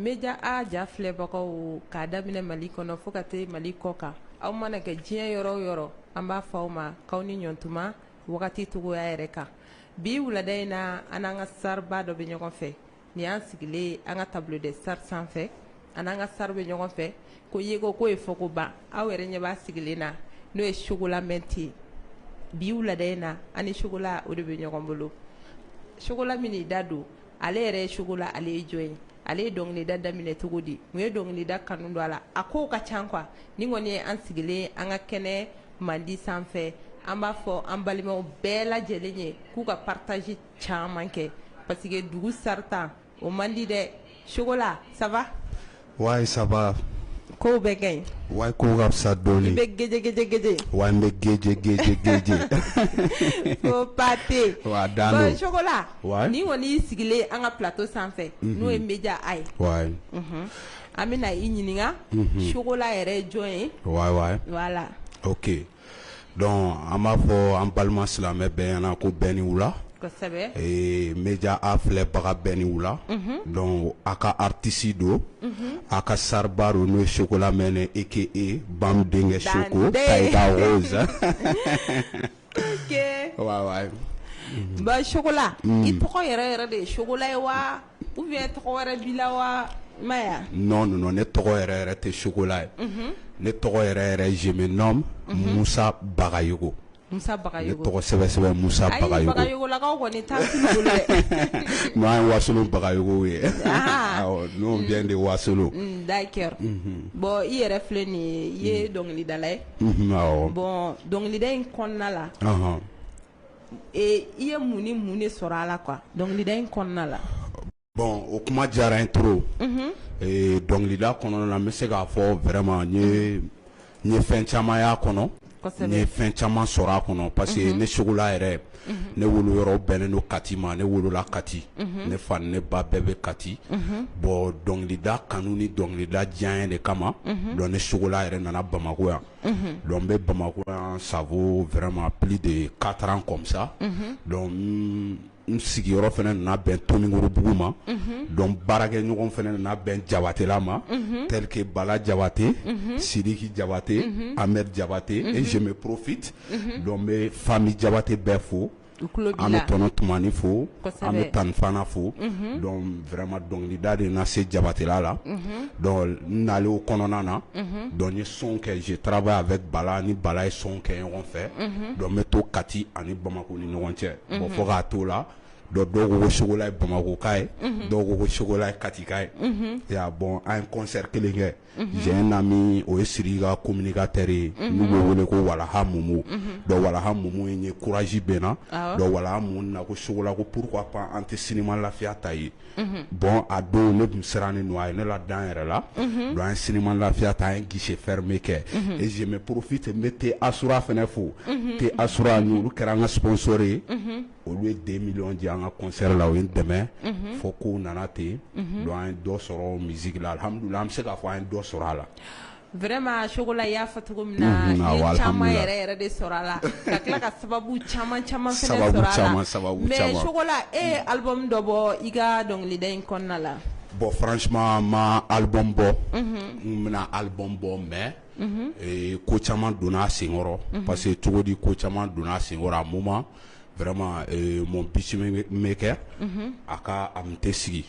Média A ja filɛbagaw k'a daminɛ mali kɔnɔ fo ka taa mali kɔ kan aw mana kɛ diɲɛ yɔrɔ o yɔrɔ an b'a fɔ aw ma k'aw ni ɲɔgɔntuma wagati cogoya yɛrɛ kan bi wulada in na an n'an ka starba dɔ bɛ ɲɔgɔn fɛ nin y'an sigilen an ka table des stars sanfɛ an n'an ka star bɛ ɲɔgɔn fɛ ko yeko k'o ye fɔko ban aw yɛrɛ ɲɛ b'a sigilen na n'o ye Chocolat Menthe ye bi wulada in na an ni Chocolat o de bɛ ɲɔgɔn bolo Chocolat minnu t'a dɔn ale yɛrɛ ye Chocolat ale ye jɔn ye ale ye dɔnkilida daminɛ cogo di mun ye dɔnkilida kanu don a la a kow ka ca quoi nin kɔni ye an sigilen ye an ka kɛnɛ mandi sanfɛ an b'a fɔ an balimaw bɛɛ lajɛlen ye k'u ka partage caman kɛ parce que dugu sarata o man di dɛ Chocolat ça va ouais ça va kow bɛɛ ka ɲi ouais kow ka fisa dɔɔnin i bɛ gjɛjɛjɛ ouais n bɛ gjɛjɛjɛjɛ ko pate Chocolat nin kɔni y'i sigilen an ka plateau sanfɛ n'o ye Média A ye an bɛna i ɲininka Chocolat yɛrɛ ye jɔn ye voilà Dɔn an b'a fɔ an balima silamɛmɛ bɛɛana ko bɛn ni wula bɛja a filɛbaga bɛɛ ni wula dɔn a ka atisi don a ka sariba don n'o sogola mɛn eke e ba denkɛ segu bala i tɔgɔ yɛrɛ yɛrɛ de ye sogola ye wa ou bien tɔgɔ wɛrɛ b'i la wa non non ne tɔgɔ yɛrɛ yɛrɛ tɛ Chocolat ye ne tɔgɔ yɛrɛ yɛrɛ je me nomme musa bagayogo musa bagayogo ne tɔgɔ sɛbɛ sɛbɛ musa bagayogo on vient de wasolo d'accord bon i yɛrɛ filɛ nin ye i ye dɔnkilidala ye bon dɔnkilida in kɔnɔna la i ye mun ni mun de sɔrɔ a la quoi dɔnkilida in kɔnɔna la bon o kuma diyara n ye trop dɔnkilida kɔnɔna na n bɛ se k'a fɔ vraiment n ye fɛn caman y'a kɔnɔ n ye fɛn caman sɔrɔ a kɔnɔ parce que ne Chocolat yɛrɛ ne wolo yɔrɔ bɛnnen don kati ma ne wolola kati ne fa ni ne ba bɛɛ bɛ kati bon dɔnkilida kanu ni dɔnkilida diya de kama donc ne Chocolat yɛrɛ nana bamakɔ yan donc n bɛ bamakɔ yan ça vaut vraiment plus de quatre ans comme ça donc n sigiyɔrɔ fana nana bɛn tomikorobugu ma donc baarakɛ ɲɔgɔn fana nana bɛn jabatɛla ma tels que bala jabate sidiki jabate ahmed jabate et je me profite donc n bɛ famille jabate bɛɛ fo an bɛ tɔnɔ tumani fo an bɛ tani fana fo donc vraiment dɔnkilida de na se jabatela la donc n nalen o kɔnɔna na donc n ye son kɛ je travaille avec bala ni bala ye son kɛ ɲɔgɔn fɛ donc n bɛ to kati ani bamakɔ ni ɲɔgɔn cɛ bon fo k'a to la dɔw ko chocolat ye bamakɔka ye dɔw ko chocolat ye katika ye bon an ye concert kelen kɛ jɛ na min o ye siri ka ko minika teri ye n' bɛ wele ko walamu walamu ye kuraji bɛ na wala na ko sogola ko pur pan an tɛ sinima lafiya ta ye bɔn a don ne tun siran ni a ye ne la dan yɛrɛ la don an sinima lafiya ta ye gese fɛrɛɛrɛ bɛ kɛ e ze porofin tɛ n bɛ te as fana fo te as olu kɛra an ka ssoɔri ye olu ye deux millions di an ka concert la u ye n dɛmɛ fo kow nana ten donc an ye dɔ sɔrɔ musique la alhamdulillah an bɛ se k'a fɔ an ye dɔ sɔrɔ a la vraiment chocolat y'a fɔ cogo min na i ye caman yɛrɛ de sɔrɔ a la ka tila ka sababu caman fana sɔrɔ a la mais chocolat e ye album dɔ bɔ i ka dɔnkilida in kɔnɔna la bon franchement n ma album bɔ n bɛna album bɔ mais ko caman donna a senkɔrɔ parce que cogo di ko caman donna a senkɔrɔ a moment mon beatmaker a ka a tun tɛ sigi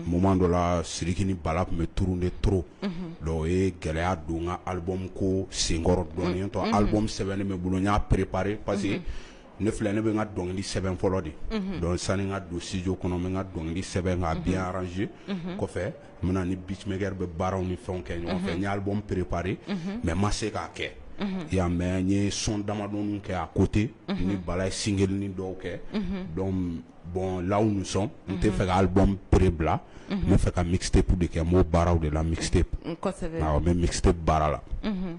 moment dɔ la siriki ni bala tun bɛ tourner de trop donc o ye gɛlɛya don n ka album ko senkɔrɔ dɔɔni n'o tɛ album sɛbɛnnen bɛ n bolo n y'a préparé parce que ne filɛ ne bɛ n ka dɔnkili sɛbɛn fɔlɔ de donc sani n ka don studio kɔnɔ n bɛ n ka dɔnkili sɛbɛn k'a bien arrangé kɔfɛ N bɛ na ni beatmaker bɛ baaraw ni fɛnw kɛ ɲɔgɔn fɛ, n ye album préparer mais n ma se k'a kɛ, unhun, i y'a ye mais n ye son damadɔni kɛ à côté n ni Bala ye singlenin dɔw kɛ, unhun, donc bon là où nous sommes n tɛ fɛ ka album pre bila, unhun, n bɛ fɛ ka mixtape de kɛ n b'o baaraw de la mixtape, kosɛbɛ, awɔ n bɛ mixtape baara la, unhun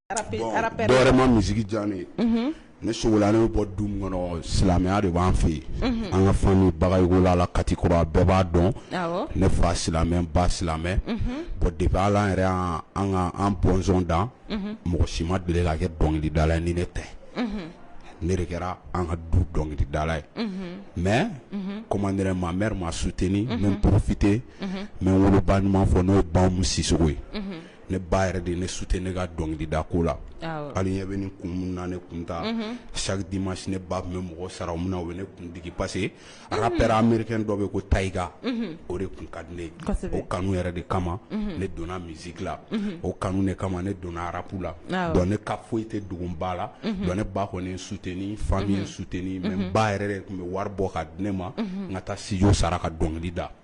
dɔwɛrɛ ma musique diya ne ye ne chocolat ne bɛ bɔ du min kɔnɔ silamɛya de b'an fɛ yen an ka famille bagayɔkɔla la kati kɔrɔ bɛɛ b'a dɔn ne fa silamɛ ba silamɛ bon depuis ala yɛrɛ an bɔnsɔn dan mɔgɔ si ma deli ka kɛ dɔnkilidala ni ne tɛ ne de kɛra an ka du dɔnkilidala ye mais comme ma mère m'a soutenu n bɛ profiter n bɛ n woloba ɲuman fo n'o ye ba umu sisɔkɔ ye ne ba yɛrɛ de ne soutenu ne ka dɔnkilida ko la hali ɲɛ bɛ nin kun min na ne kun ta chaque dimanche ne ba tun bɛ mɔgɔ sara min na o bɛ ne kun digi parce que rappeur américain dɔ bɛ ko tyga o de kun ka di ne ye o kanu yɛrɛ de kama ne donna musique la o kanu de kama ne donna rap la donc ne ka foyi tɛ dogo n ba la donc ne ba kɔni ye n soutenu famille ye n soutenu mais n ba yɛrɛ de tun bɛ wari bɔ ka di ne ma n ka taa studio sara ka dɔnkili da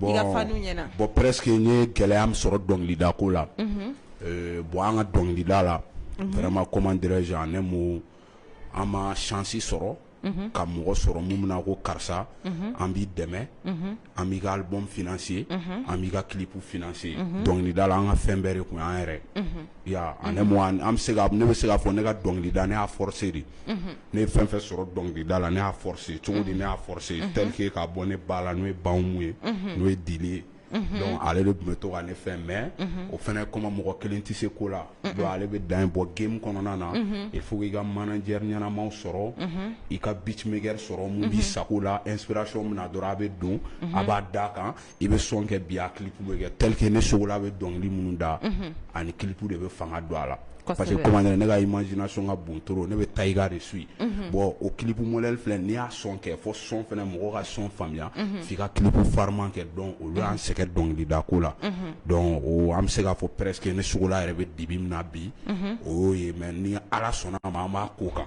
bon presque n ye gɛlɛya min sɔrɔ dɔnkilida ko la bon an ka dɔnkilida la vraiment comment dirais-je ne ma an ma chance sɔrɔ ka mɔgɔ sɔrɔ min bɛna ko karisa an b'i dɛmɛ an b'i ka album financer an b'i ka clip financer dɔnkilida la an ka fɛn bɛɛ de tun y'an yɛrɛ an ne bɛ se k'a fɔ ne ka dɔnkili da ne y'a forcer de ne ye fɛn fɛn sɔrɔ dɔnkili da la ne y'a forcer cogo di ne y'a forcer tel que k'a bɔ ne ba la n'o ye ba umu ye n'o ye dili ye ale de tun bɛ to ka ne fɛn mais o fana comme mɔgɔ kelen tɛ se ko la ale bɛ dan bɔ game kɔnɔna na il faut que i ka manager ɲɛnama sɔrɔ i ka beatmaker sɔrɔ min b'i sago la inspiration min na dɔrɔn a bɛ don a b'a da a kan i bɛ son kɛ bi a clip bɛ kɛ tel que ne chocolat bɛ dɔnkili minnu da ani clip de bɛ fanga don a la parce que ne ka imagination ka bon trop ne bɛ tyga de suivre bon o clip modèle filɛ n'i y'a son kɛ fo son fana mɔgɔ ka son faamuya f'i ka clip farima kɛ donc olu y'an sɛgɛn dɔnkili da ko la donc o an bɛ se k'a fɔ presque ne chocolat yɛrɛ bɛ dibi min na bi o y'o ye mais ni ala sɔnna a ma an b'a ko kan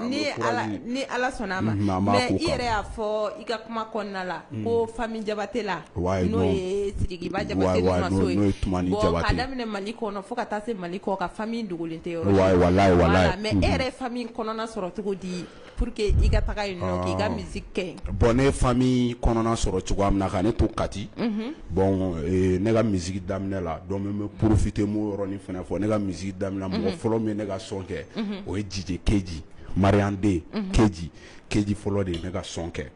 ni ala sɔnna a ma mais i yɛrɛ y'a fɔ i ka kuma kɔnɔna la ko famille jabatɛla n'o ye sidikiba jabatɛ ni tumani jabatɛ k'a daminɛ mali kɔnɔ fo ka taa se mali kɔkan famille dogolen tɛ yɔrɔ mais e yɛrɛ ye famille kɔnɔna sɔrɔ cogo di pour que i ka taga yen nɔ k'i ka musique kɛ bon ne famille kɔnɔna sɔrɔ cogoya min na ka ne to kati bon ne ka musique daminɛ la donc n bɛ profiter n b'o yɔrɔnin fana fɔ ne ka musique daminɛ mɔgɔ fɔlɔ min ye ne ka son kɛ o ye DJ keji mariyanden keji keji fɔlɔ de ye ne ka son kɛ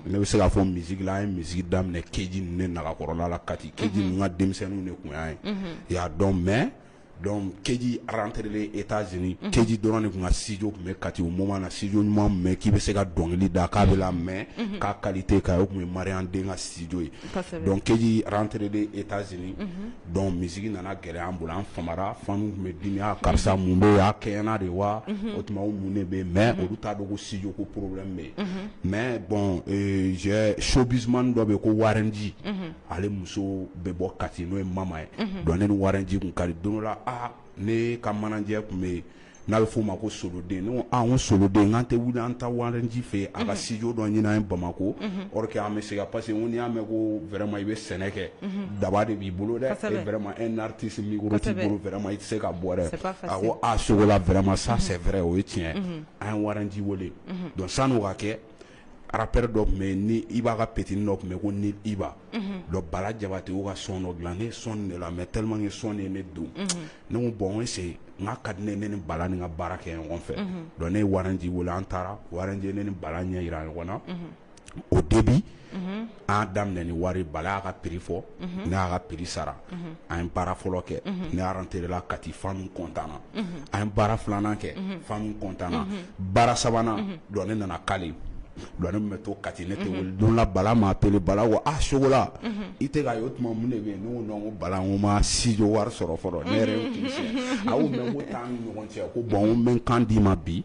ne bɛ se k'a fɔ musique la an ye musique daminɛ keji ne nagakɔrɔla la kati keji ninnu ka denmisɛnnin de tun y'an ye i y'a dɔn mais donc keji rentré États-Unis keji dɔrɔn de tun ka studio tun bɛ kati o moment na studio ɲuman même k'i bɛ se ka dɔnkili da k'a bɛɛ lamɛn k'a qualité ka o tun ye mariyanden ka studio ye donc keji rentré États-Unis Donc musique nana gɛlɛya an bolo an famara fanw tun bɛ dimi a karisa mun bɛ yen a kɛɲɛna de wa o tuma o mun de bɛ yen mais olu t'a dɔn ko studio ko problème bɛ yen mais bon showbizman dɔ bɛ yen ko waraji ale muso bɛ bɔ kati n'o ye mama ye donc ne ni waraji kun ka di don dɔ la ne ka manager tun bɛ yen n'a bɛ f'o ma ko soden ne ko soden an tɛ wuli an ta waraji fɛ a ka sijo dɔ ɲin ye bamakɔ ke an bɛ se ka parce que n y'a mɛn ko wɛrɛma i bɛ sɛnɛ kɛ daba de b'i bolo dɛ fɛma e naretesi wɛrɛma i tɛ se ka bɔɛ a sogo wɛrɛma sa sɛ fɛrɛɛrɛ o ye tiɲɛ an ye waraji weele don sanu ka kɛ Rappeur dɔ tun bɛ yen ni iba ka petitnin dɔ tun bɛ yen ko ni iba donc bala jabatɛ y'o ka son dɔ dilan ne ye son de lamɛn tellement que son ye ne don ne ko bon se n'a ka di ne ne ni bala nin ka baara kɛ ɲɔgɔn fɛ donc ne ye waraji wele an taara waraji ne ni bala ɲɛ jira ɲɔgɔn na au début an daminɛ ni wari bala y'a ka prix fɔ n y'a ka prix sara an ye baara fɔlɔ kɛ n rentré la kati fans content na an ye baara filanan kɛ fans content na baara sabanan donc ne nana kale donc ne bɛ to kati ne don la bala m'appelé bala ko a sogola i tɛ ka ye o tuma mun de bɛ n ko bala n ma studio wari sɔrɔ fɔlɔ ne yɛrɛ a ko t'an ni ɲɔgɔn cɛ ko bon n bɛ n kan d'i ma bi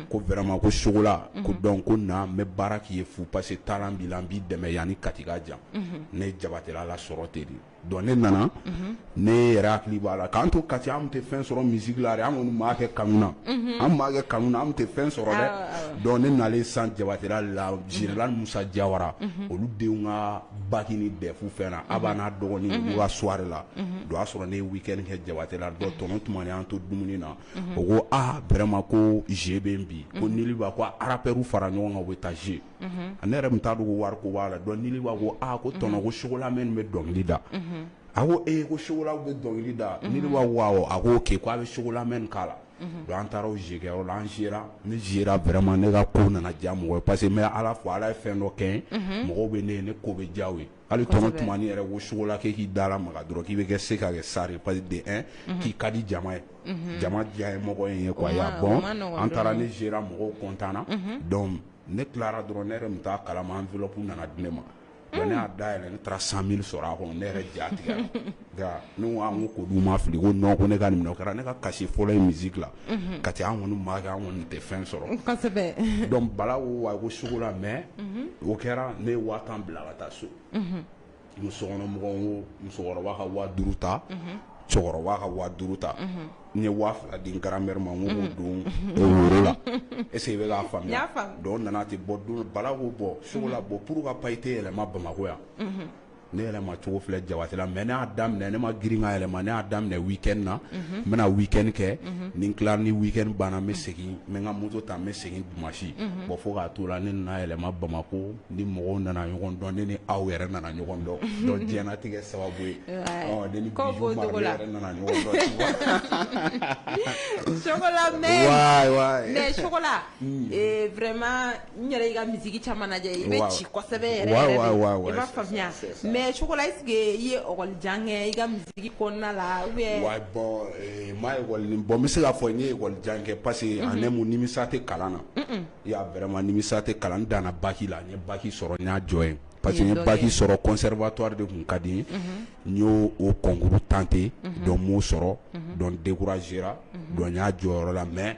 ko vraiment ko sogola ko donc ko na n bɛ baara k'i ye fu parce que talent b'i la n b'i dɛmɛ yan ni kati ka jan ne ye jabatela sɔrɔ ten de donc ne nana ne yɛrɛ hakili b'a la k'an to kati an tɛ fɛn sɔrɔ musique la an kɔni b'a kɛ kanu na an b'a kɛ kanu na an tɛ fɛn sɔrɔ dɛ donc ne nalen san jabatela général musa jawara olu denw ka bac ni DEF fɛn na a b'a n'a dɔgɔnin soirée la o y'a sɔrɔ ne ye week-end kɛ jabatela donc tɔnɔ tumani y'an to dumuni na o ko aa vraiment ko jouer bɛ bi ko niliba ko rappeurw fara ɲɔgɔn kan bɛ taa jouer a ne yɛrɛ tun t'a dɔn ko wari ko b'a la donc niliba ko ko tɔnɔ ko sogola min bɛ dɔnkili da a ko e ko sogola bɛ dɔnkili da niliba a ko ok ko a bɛ sogola mɛn k'a la donc an taara jouer la an jouer ra ne jouer ra vraiment ne ka ko nana diya mɔgɔ ye parce que ala fɔ ala ye fɛn dɔ kɛ mɔgɔw bɛ ne ye ne ko bɛ diya u ye hali tɔnɔ tumani yɛrɛ ko sogola k'e k'i da lamaga dɔrɔn k'i bɛ kɛ se ka kɛ star parce que de un mhm. k'i ka di jama ye mhm. jama diya ye mɔgɔ in ye quoi y'a bon an taara ne jouer ra mɔgɔw content na mhm. donc ne tilara dɔrɔn ne yɛrɛ tun t'a kalama enveloppe nana di ne ma ne y'a dayɛlɛ ne taara 100000 sɔrɔ a kɔnɔ ne yɛrɛ ja tigɛra nka ne ko olu ma fili ko non ko ne ka nin kɛra ne ka cachet fɔlɔ ye musique la kati an kɔni b'a kɛ an kɔni tɛ fɛn sɔrɔ donc bala a ko sogola mais o kɛra ne ye wari bila ka taa so n sokɔnɔmɔgɔ musokɔrɔba ka waa duuru ta cɛkɔrɔba ka waa duuru ta n ye waa fila di grand-mère ma k'o don woro la est ce que i b'a faamuya donc nana ten bon bala ko sogola bon pourquoi pas i tɛ yɛlɛma bamakɔ yan Ne yɛlɛma cogo filɛ jabatela mais n y'a daminɛ ne ma girin ka yɛlɛma n y'a daminɛ week-end na n bɛ na week-end kɛ ni n tilara ni week-end banna n bɛ segin n bɛ n ka moto ta n bɛ segin dimasi bon fo k'a to la ne nana yɛlɛma bamakɔ ni mɔgɔw nana ɲɔgɔn dɔn ne ni aw yɛrɛ nana ɲɔgɔn dɔn donc diɲɛnatigɛ sababu ye mɛ mɛ n yɛrɛ y'i ka musique caman lajɛ i bɛ ci kosɛbɛ yɛrɛ yɛrɛ de i b'a faamuya mais Sogola est ce que i ye école jan kɛ i ka musique kɔnɔna la ou bien ouai bon n ma école bon n bɛ se k'a fɔ n ye école jan kɛ parce que en un mot nimisa tɛ kalan na i y'a vraiment nimisa tɛ kalan na n danna bac la n ye bac sɔrɔ n y'a jɔ yen parce que n ye bac sɔrɔ conservatoire de tun ka di n ye n y'o o concours tenter donc n m'o sɔrɔ donc n décourager ra donc n y'a jɔ o yɔrɔ la mais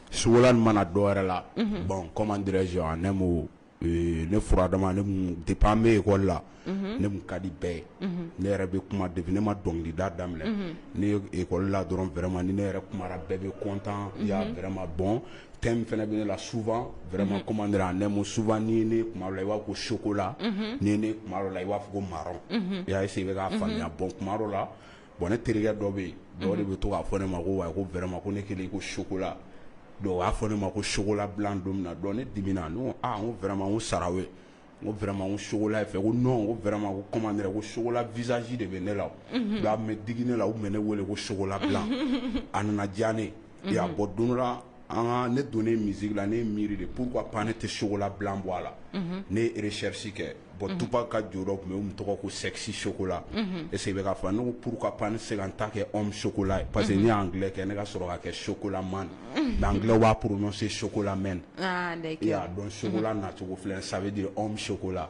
Sugulan mana dɔw wɛrɛ la bɔn kɔman dez ne ne furadamap bɛ yen kɔ la ne ka di bɛɛ ye ne yɛrɛ bɛ kuma de ne ma dɔnkilida daminɛ ne ekɔ la dɔrɔn fɛrɛma ni ne yɛrɛ kuma bɛɛ bɛ kɔntan fɛma bɔn fɛn fana bɛ ne la sufa fɛrɛma kɔman ne sufa ni ne kuma la i b'a ko sokola ni ne la i b'a fɔ ko mara i y'a se bɛ ka faamuya bɔ kuma la bon ne terikɛ dɔ bɛ yen dɔw de bɛ to k'a fɔ ne ma ko wa ko vraiment ko ne kɛlen ko chocolat donc b'a fɔ ne ma ko chocolat blanc don min na donc ne dimina n ko vraiment sara ye ko vraiment chocolat fɛ ko non ko vraiment ko ko chocolat visage de bɛ ne la a bɛ digi ne la u bɛ ne wele ko chocolat blanc a nana diya ne ye bon don ne don misi la ne miiri de k'u ka pan ne tɛ sogola bila bɔ a la ne ye resɛrisi kɛ bɔn tu ka jɔ tun tɔgɔ ko sɛgsi sogola ese bɛ k'a fɔ n ko pur ka pan se ka ta kɛ anw sogola ye parce que ne y'an kɛ ne ka sɔrɔ ka kɛ sogola man dan b'a porosi sogola mɛn i y'a dɔn sogola nacogo filɛ sabu di anw sogola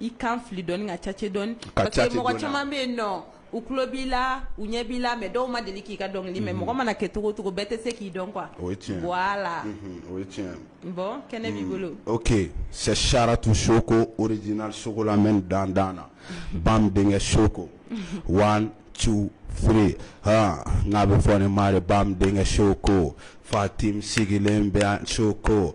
I kan fili dɔɔni ka cace dɔɔni ka cace dɔɔni parce que mɔgɔ caman be yen nɔ u tulo b'i la u ɲɛ b'i la mais dɔw ma deli k'i ka dɔnkili unhun mɛn mɔgɔ mana kɛ cogo o cogo bɛɛ te se k'i dɔn quoi o ye tiɲɛ ye voilà unhun o ye tiɲɛ ye bon kɛnɛ b'i bolo ok c'est Saratou Soko original Chocolat men dan dan na Bam denkɛ Soko one two three haan n'a be fɔ ne ma de Bam denkɛ Soko Fatim sigilen bɛ yan Soko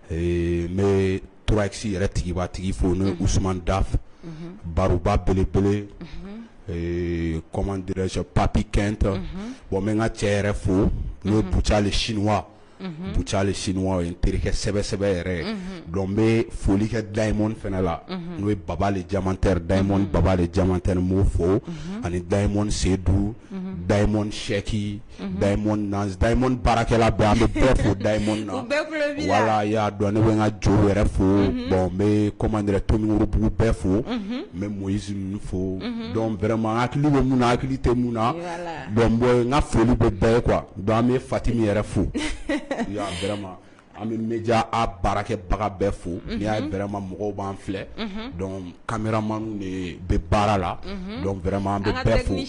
Ee n bɛ trois X yɛrɛ tigiba tigi fo n'o ye Usumani Dafu, unhun, baroba belebele, unhun, ee comment dirais je papy Kent, unhun, bon n bɛ n ka cɛ yɛrɛ fo, unhun, n'o ye Buca le chinois, unhun, Buca le chinois o ye n terikɛ sɛbɛ sɛbɛ yɛrɛ ye, unhun, donc n bɛ foli kɛ Diamond fana la, unhun, n'o ye Baba le Diamantaire, Diamond Baba le Diamantaire n b'o fo, unhun, ani Diamond Sedu, unhun, Diamond Sɛki baarakɛla bɛ bɛɛ fo da wala y'a dɔn ne bɛ ka jo wɛrɛ fo bɔn bɛ kɔmandira tobugu bɛɛ fo n bɛ mɔ z fo dɔn wɛrɛma hakili bɛ mun hakili tɛ mun na dɔn n ka foli bɛ bɛɛ kuwa dɔn bɛ fati min yɛrɛ fo an bɛ mja a baarakɛbaga bɛɛ fo n y'a bɛrɛma mɔgɔw b'an filɛ kameraman bɛ baara la dɔn wɛrɛma bɛ bɛɛ fo ye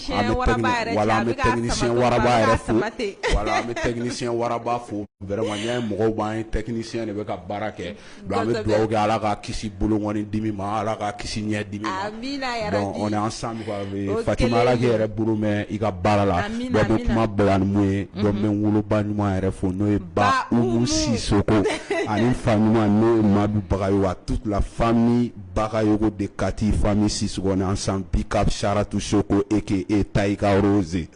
mɔgɔw b'an ye tɛkinisiyɛn de bɛ ka baara kɛ an bɛ dugawu kɛ ala ka kisi boloɔni dimi ma ala ka kisi ɲɛ dimi ma. Amina yarabi. Donc on est ensemble quoi. O Fatim Ala k'i yɛrɛ bolo mɛn i ka baara la. Amina amina. Donc i bɛ kuma bila ni mun ye. Donc n bɛ n woloba ɲuman yɛrɛ fo n'o ye ba Umu Sisoko ani n fa ɲuman n'o ye Madu Bagayogo à toute la famille Bagayogo de Kati famille Sisoko on est ensemble big up Saratu Soko aka Tayiga Rose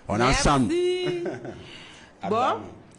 on est ensemble. Merci bon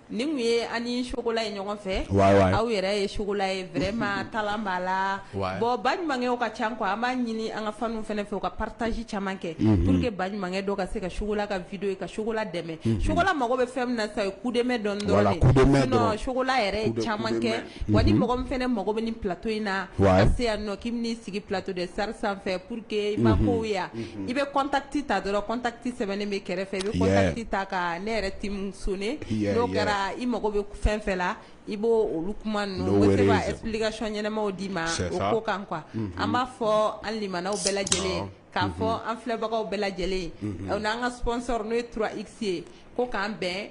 Nin tun ye an ni chocolat ye ɲɔgɔn fɛ, wayi wayi, aw yɛrɛ ye chocolat ye vraiment talent b'a la, wayi, bon baɲumankɛw ka ca quoi an b'a ɲini an ka fans fana fɛ u ka partage caman kɛ, unhun, pour que baɲumankɛ dɔ ka se ka chocolat ka video ye ka chocolat dɛmɛ, unhun, chocolat mago bɛ fɛn min na sisan o ye coup de main dɔɔnin dɔrɔn de ye, voilà coup de main dɔrɔn, sinon chocolat yɛrɛ ye caman kɛ Wa ni mɔgɔ min fana mago bɛ nin plateau in na ka se yan nɔ k'i bɛ n'i sigi plateau de star sanfɛ pour que i mako ɲa i bɛ contact ta dɔrɔn contact sɛbɛnnen bɛ kɛrɛfɛ i bɛ contact ta ka ne yɛrɛ team sonner n'o kɛra i mago bɛ fɛn fɛn na i b'olu kuma ninnu bɛ se ka explication ɲɛnamaw d'i ma o ko kan quoi an b'a fɔ an limanaw bɛɛ lajɛlen k'a fɔ an filɛbagaw bɛɛ lajɛlen n'an ka sponsor n'o ye 3X ye ko k'an bɛn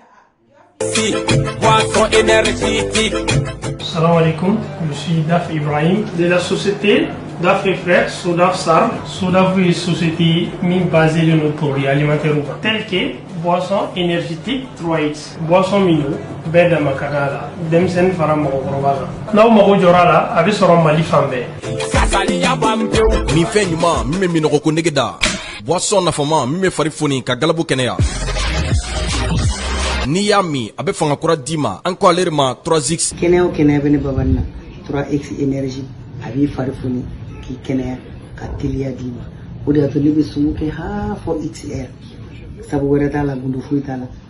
Salam alaikum, je suis Daf Ibrahim de la société Daf et Frères, Sodaf SARL. Sodaf est une société basée sur nos produits alimentaires tels que boisson énergétique 3X, boisson Mino, bɛɛ dama ka d'a la denmisɛnnin fara mɔgɔkɔrɔba kan n'aw mago jɔra a la a bɛ sɔrɔ mali fan bɛɛ. minfɛn ɲuman min bɛ minnɔgɔ ko nege da. Boisson nafama min bɛ fari foni ka galabu kɛnɛya. N'i y'a min a bɛ fanga kura d'i ma an ko ale de ma 3X. Kɛnɛya o kɛnɛya bɛ ne Babani na 3X énergie a b'i fari foni k'i kɛnɛya ka teliya d'i ma o de y'a to ne bɛ sumu kɛ haa fɔ X heure sabu wɛrɛ t'a la gundo foyi t'a la.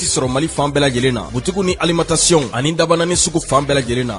ti sɔrɔ mali fan bɛɛ lajɛlen na butigiw ni alimentation ani Dabanani sugu fan bɛɛ lajɛlen na